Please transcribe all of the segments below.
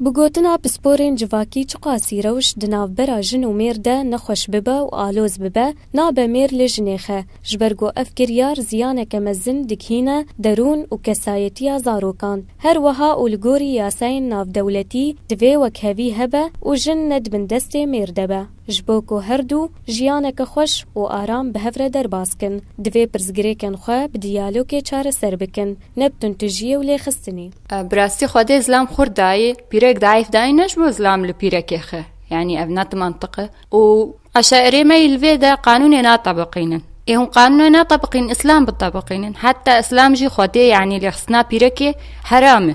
Bi gotina pisporên civakî çiqasî rewş di navbera jin û mêr de nexweş bibe û aloz bibe, nabe mêr lê ji nêxe. Ji ber ku ev kiryar ziyaneke mezin dighîne derûn û kesayetiya zarokan. Her wiha û li gorî yasayên navdewletî divê wekhevî hebe û jin nedibin destê mêr de be. Ji bo ku her du jiyaneke xweş û aram bi hev re derbas kin, divê pirsgirêkên xwe bi diyalogê çareser bikin, ne bi tuntujiyê û lêxistinê. Bi rastî Xwedê zilam xurt dayê, pîrek zeîf dayê ne ji bo zilam li pîrekê xe, yanî ev ne timantiq e û eşaîrê me yî li vê de qanûnê natebiqînin. Ê hûn qanûnê netebiqînin, îslam bitebiqînin. Heta îslam jî Xwedê yanî lêxistina pîrekê heram e.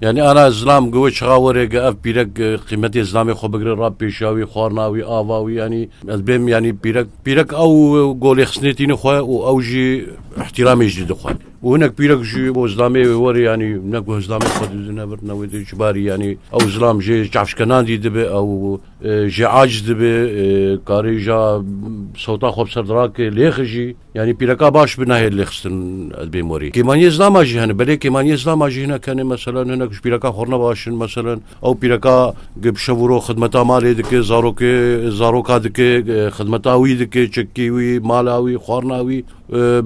Yanî ana zilam gi wê çixa were gi ev pîrek qîmetê zilamê xwe bigire ra pêşiya wî, xwarina wî, ava wî yanî ez bêm yanî pîrek pîrek ew golê xistinê tîni xwe û ew jî îhtîramê jî didi xwe. Û hinek pîrek jî bo zilamê wê were yanî ne ku zilamê xwe didi ne vir ne wê dê ji barî yanî ew zilam jê çavşkenan dî dibe ew jê aciz dibe karê ja sewta xwe bi ser dirake lêxijî. Yanî pîreka baş bi nahê lêxistin ez bê morî. Kêmaniyê zilama jî hene belê kêmaniyê zilama jî hinek hene mesela hinek ji pîreka xwe ne baş in mesela ew pîreka gi bi şev û roj xidmeta malê dike zarokê zaroka dike xidmeta wî dike çekî wî mala wî xwarina wî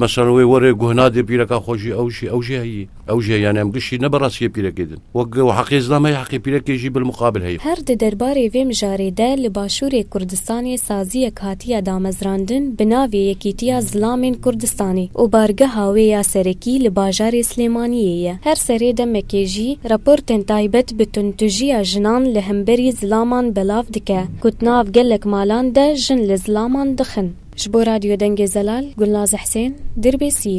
mesela wê were guhna dê pîreka xwe jî ew jî ew jî heyî. Ew jî heye yanî em giştî ne bi rastiyê pîrekê din. Wek heqê zilam heye heqê pîrekê jî bilmuqabil heye. Her di derbarê vê mijarê de li Başûrê Kurdistanê saziyek hatiye damezrandin bi navê Yekîtiya Zilamên Kurdistanê û bargeha wê ya serekî li bajarê Silêmaniyê ye. Her serê demekê jî raportên taybet bi tundtujiya jinan li hemberî zilaman belav dike ku di nav gelek malan de jin li zilaman dixin. Ji bo Radyo Dengê Zelal, Gulnaz Hsên, Dirbêsiyê.